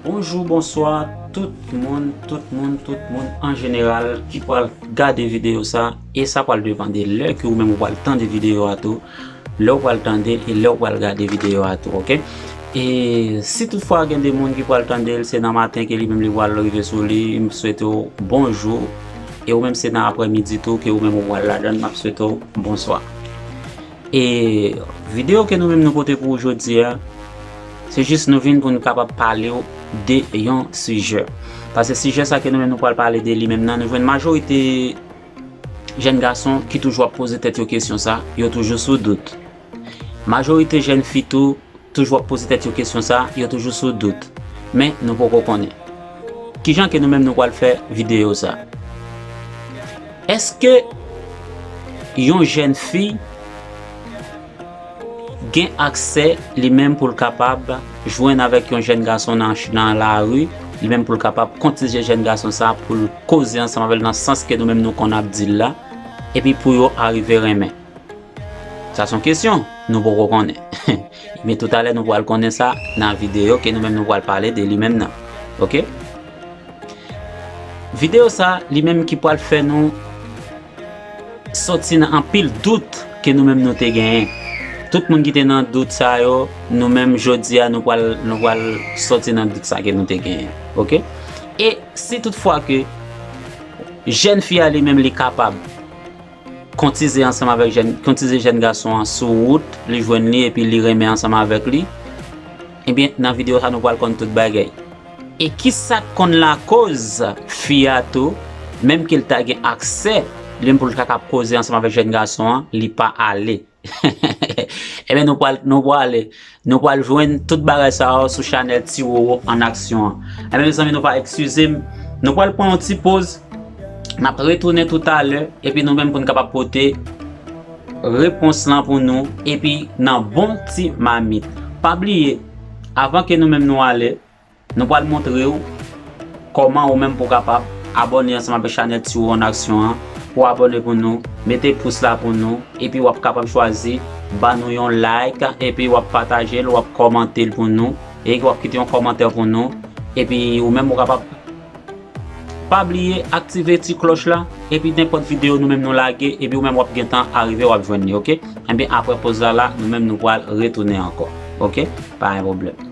Bonjou bonswa tout moun tout moun tout moun an jeneral ki pral gade videyo sa e sa pral depande lè ke ou menm ou pral tande videyo a tou Lè ou pral tande l e lè ou pral gade videyo a tou ok. E si tout fwa gen 2 moun ki pral tande l se nan maten ke li menm li pral rive sou li m swete w bonjou e ou menm se nan aprè midi tou ke ou menm ou pral ladan l map swete w bonswa. E videyo ke nou menm nou pote pou ou jodi a se jis nou vin pou nou kapab pale w de yon sijè. Pase sijè sa ke nou menm nou pral pale de li menm nan nou jwenn majorite Jèn gason ki toujou ap poze tèt yo kesyon sa, yo toujou sou dout. Majorite jèn fi tou, toujou ap poze tèt yo kesyon sa, yo toujou sou dout. Men nou poko konnen. Kijan ke nou menm nou pwal fè videyo sa? Eske yon jèn fi, Gen aksè, li menm pou l kapab jwenn avèk yon jèn gason nan lari, li menm pou l kapab kontije jèn gason sa a, pou l koze ansanm avè l nan sans ke nou menm nou konn ap di l la, epi pou yo arive renmen. Sa s on kesyon nou poko konnen. Ebyen toutalè nou pral konnen sa nan videyo ke nou menm nou pral pale de li menm nan. Ok. Videyo sa a, li menm ki pral fè nou. Soti nan anpil dout ke nou menm nou te genyen. Tout moun ki te nan dout sa yo, nou menm jodi a nou pral nou pral soti nan dout sa ke nou te genyen. Ok? E si tout fwa ke jèn fi a li menm li kapab kontize ansanm avèk jèn kontize jèn gason an sou wout li jwenn li epi li renmen ansanm avèk li, Ebyen nan video sa nou pral konn tout bagay. E kisak konn lakoz fi a tou menm kel ta gen aksè lin poul ta kap koze ansanm avèk jèn gason an li pa ale Ebyen nou pral nou prale nou pral jwenn tout bagay sa yo sou chanèl ti roro an aksyon an Ebyen mezanmi nou pa ekskizem nou pral pran yon ti poz nap retounen toutalè epi nou menm poun kapab pote repons lan pou nou epi nan bon ti mamit pa bliye avan ke nou menm nou ale nou pral montrew kòman ou menm pou kapab abòne ansanm avèk chanèl tiwo an aksyon an pou abòne pou nou mete pous la pou nou epi wap kapab chwazi ba nou yon like epi wap patajel wap kòmantel pou nou e wap kite yon kòmantè pou nou epi ou menm ou kapab. Pa bliye aktive ti klòch la epi nenpòt video nou menm nou lage epi ou menm wap gentan arive wap jwenn li ok enben aprè poz la la nou menm nou pwal retounen ankò ok pa gen pwoblèm.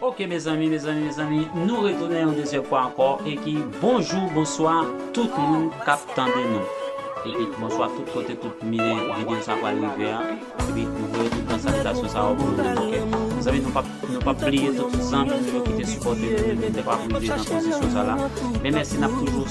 Ok mezanmi mezanmi mezanmi nou retounen yon dezyèm fwa ankò e ki bonjou bonswa tout moun kap tande nou epi bonswa tout kote tout mine videyo sa pral rive a epi nou voye tout tan salitasyon sa yo pou nou ok mezanmi nou pap nou pap bliye tout zanmi nou yo ki te sipòte nou depi lè pap rive nan pozisyon sa la men mèsi nap toujou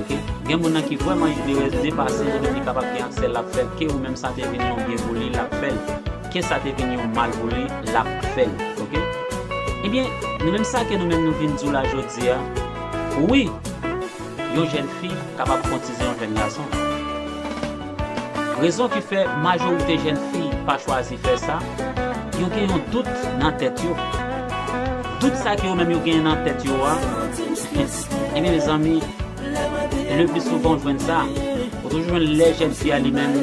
Ok gen moun nan ki vreman igneres de pase yo depi kapab gen aksè lap fel ke ou menm sa te vin yon byen pou li lap fel ke sa te vin yon mal pou li lap fel ok ebyen nou menm sa ke nou menm nou vin diw la jodia wi yon jèn fi kapab kontize yon jèn gason rezon ki fè majorite jèn fi pa chwazi fè sa yo gen yon dout nan tèt yo dout sa ke yo menm yo genyen nan tèt yo a. Ebyen mezanmi le pli souvan ou jwenn sa ou toujou jwenn lè jèn fi a li menm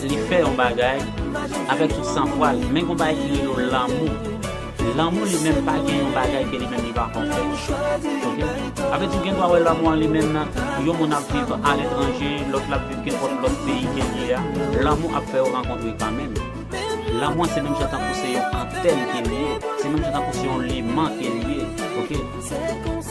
li fè yon bagay avèk tout san fwa l men gon bagay ki rele w lanmou lanmou li menm pa gen yon bagay ke li menm li pa konn fè ok avè di w gen dwa wè lanmou an li menm yon moun ap viv a letranje lòt la ap viv kenpòt lòt peyi ke li a lanmou ap fè yo rankontre kan menm lanmou an se menm jan tankou se yon antèn ke li ye se menm jan tankou se yon leman ke li ye ok.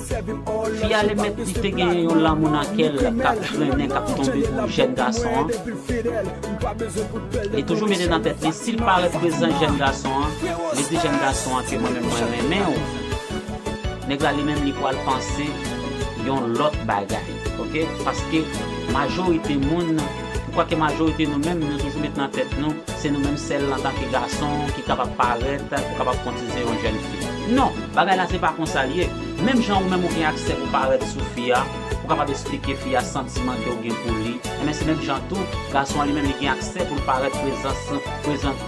Fi a li menm li te genyen yon lanmou nan kè l kap grennen kap tonbe pou jèn gason an, li toujou mete nan tèt li si l pa reprezan jèn gason an, li di jèn gason an ke mwen menm mwen renmen w, nèg la li menm li pwal panse yon lòt bagay ok paske majorite moun. Ou kwè ke majorite nou menm nou toujou met nan tèt nou se nou menm sèl antanke gason ki kapab parèt pou kapab kontize yon jèn fi. Non, bagay la se pa konsa l ye. Menm jan ou menm ou gen aksè pou parèt sou fi a, pou kapab esplike fi a santiman ke ou gen pou li, enben se menm jan tou gason an li menm li gen aksè pou l parèt prezans prezan.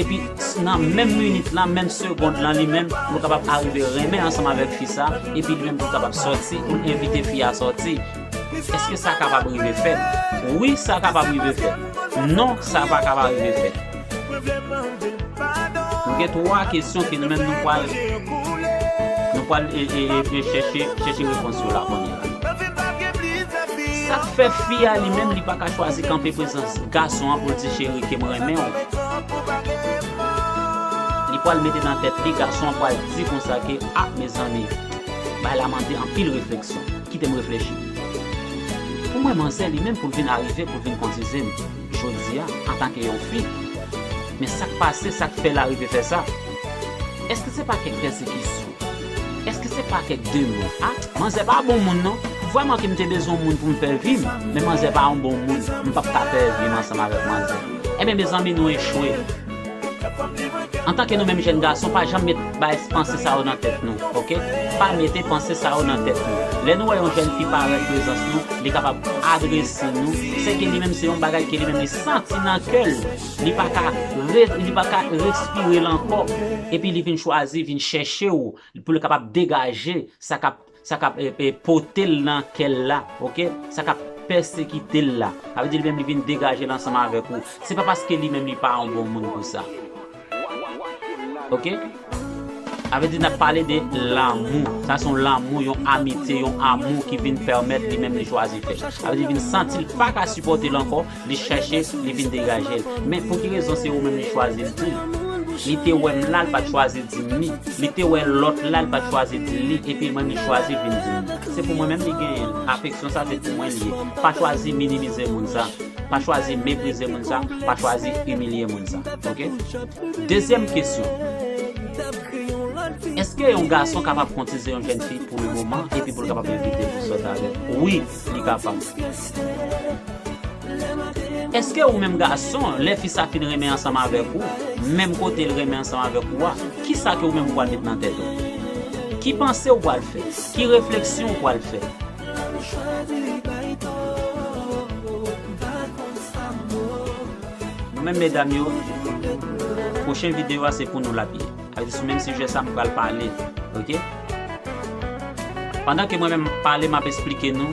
Epi nan menm minit lan, menm segond lan li menm, nou kapab arive renmen ansanm avèk fi sa, epi li menm tou kapab sòti, ou envite fi a sòti. Èske sa kapab rive fèt? Wi, sa kapab rive fèt. Non, sa pa kab arive fèt. Nou gen twa kesyon ke nou menm nou pral, nou pral chèche repons yo la kounyea. Sak fè fi a li menm li paka chwazi kanpe prezans gason an poul di cheri kem renmenw li pwal mete nan tèt li gason an pwal di konsa ke ah mezanmi bagay la mande anpil refleksyon kitem reflechi pou mwen manzè li menm poul vin arive poul vin kontizem jodia antanke yon fi men sak pase sak fèl arive fè sa eske se pa kèk pèsekisyon. Eske se pa kèk demon a? Manzè pa bon moun non. Vrèman ke m te bezwen yon moun pou m fè vi m, men manzè pa yon bon moun. M p ap ka fè vi m ansanm avèk manzè. Enben mezanmi nou echwe. Antanke nou menm jèn gason pa janm met bay panse sa yo nan tèt nou ok. Pa mete panse sa yo nan tèt nou. Lè nou wè yon jèn fi parèt prezans nou, li kapab adrese nou, sèke li menm se yon bagay ke li menm li santi nan kè l. li pa ka li pa ka respire l ankò epi li vin chwazi vin chèche w pou l kapab degaje sa k ap sa k ap pote l nan kè l la ok sa k ap pèsekite l la sa vle di li menm li vin degaje l ansanm avèk ou se pa paske li menm li pa yon bon moun pou sa ok. Avedi nap pale de lanmou. Sa se yon lanmou, yon amitye, yon amou ki vin pèmèt li menm li chwazi fè. Avedi li vin santi li pa ka sipòte l ankò, li chèche, li vin degaje l. Men pou ki rezon se ou menm li chwazi l di l? Li te wè m la, li pa t chwazi di m li. Li te wè lòt la, li pa t chwazi di l li. Epi mwen li chwazi vin di m. Se pou mwen menm li genyen l. Afeksyon sa se pou mwen li ye. Pa chwazi minimize moun sa. Pa chwazi meprize moun sa. Pa chwazi imilye moun sa. Ok? Dezyèm kesyon, Èske yon gason kapab kontize yon jèn fi pou le moman epi pou l kapab evite l sot avè l? Wi, li kapab. Èske ou menm gason, lè fi sa fin renmen ansanm avèk ou, menm kote l renmen ansanm avèk ou a, kisa ke ou menm ou pral met nan tèt ou? Ki panse ou pral fè? Ki refleksyon ou pral fè? Nou menm medam yo pwochen video a se pou nou lap ye sa vle di sou menm sijè sa m pral pale ok pandan ke mwen menm map pale map esplike nou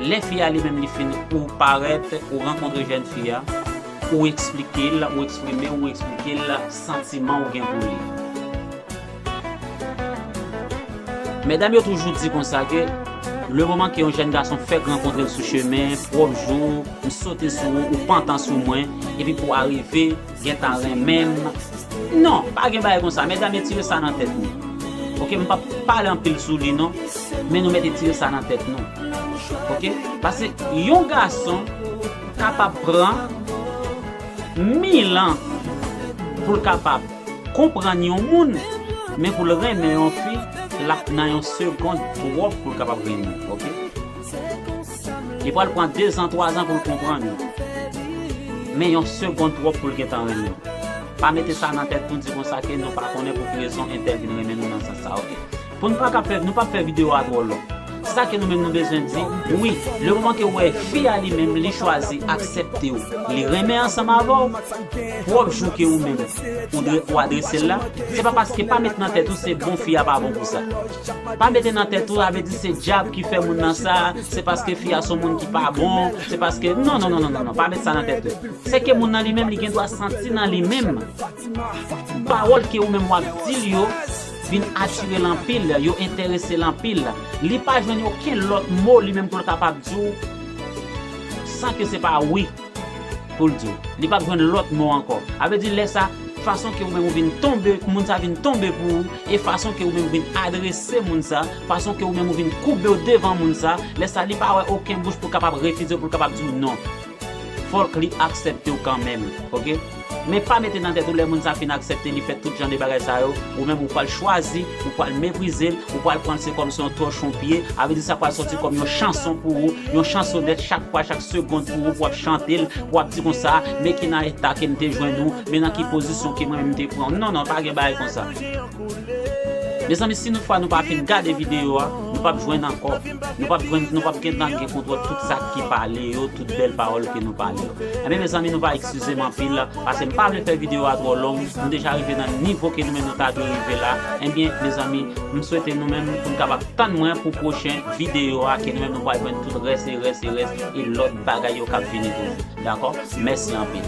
lè fi a li menm li fin ou parèt ou rankontre jèn fi a ou esplike l ou eksprime ou esplike l santiman ou gen pou li. Medam yo toujou di konsa ke le moman ke yon jèn gason fèk rankontre l sou chemen, pwòp jou, m sote sou ou, ou pantan sou mwen, epi pou arive gentan renmen m, non, pa gen bagay konsa, medam etire sa nan tèt nou, ok, m pap pale anpil sou li non, men nou mèt etire sa nan tèt nou, ok, pase yon gason kapab pran mil an pou l kapab. Konprann yon moun men pou l renmen yon fi lap nan yon segond twòp pou l kapab renmen l ok li pral pran dezan twazan pou l konprann ou men yon segond twòp pou l gentan renmen w pa mete sa nan tèt nou di konsa ke nou pa konnen pou ki rezon entèl vin renmen nou nan sans sa ok. Pou nou paka fè, nou pap fè video a twò long. Se sa ke nou menm nou bezwen di, wi, le moman ke ou wè fi a li menm li chwazi aksepte ou, li renmen ansanm avè ou, pwòp jou ke ou menm ou dwe ou adrese l la, se pa paske pa met nan tèt ou se bon fi a pa bon pou sa. Pa mete nan tèt ou sa vle di se dyab ki fè moun nan sa, se paske fi a son moun ki pa bon, se paske, non, non, non, non, non, pa met sa nan tèt ou. Se ke moun nan li menm li gen dwa santi nan li menm pawòl ke ou menm wap di l yo, vin atire l anpil, yo enterese l anpil, li pa jwenn okenn lòt mo li menm pou l kapab di w san ke se pa wi pou l di w. Li pap jwenn lòt mo ankò. A vle di lè sa, fason ke ou menm ou vin tonbe, moun sa vin tonbe pou ou, e fason ke ou menm ou vin adrese moun sa, fason ke ou menm ou vin koube w devan moun sa, lè sa li pa wè oken bouch pou l kapab refize w, pou l kapab di w non. Fòk li aksèptew kanmenm ok men pa mete nan tèt ou lè moun sa fin aksèpte li fè tout jan de bagay sa yo ou menm ou pwal chwazi ou pwal meprizel ou pwal pranl se kòm se yon tòchon pye avè di sa pwal sòti kòm yon chanson pou ou yon chansonèt chak fwa chak segond pou ou pou wap chantel pou wap di konsa men ki nan eta kem te jwenn ou men nan ki pozisyon ke mwen menm te pranw non non pa gen bagay konsa. Mezanmi si nou fwa nou pa fin gade video a nou pap jwenn ankò nou pap jwenn nou pap gentan gen kontwòl tout sa ki pale yo tout bèl pawòl ke nou pale yo enben mezanmi nou va eksizem anpil paskem pa vle fè video a twò long nou deja rive nan nivo ke nou menm nou ta dwe rive la enben mezanmi m swete nou menm poun kapab tann mwen pou pwochen video a ke nou menm nou pwal jwenn tout rès e rès e rès e lòt bagay yo kap vini toujou dakò mèsi anpil.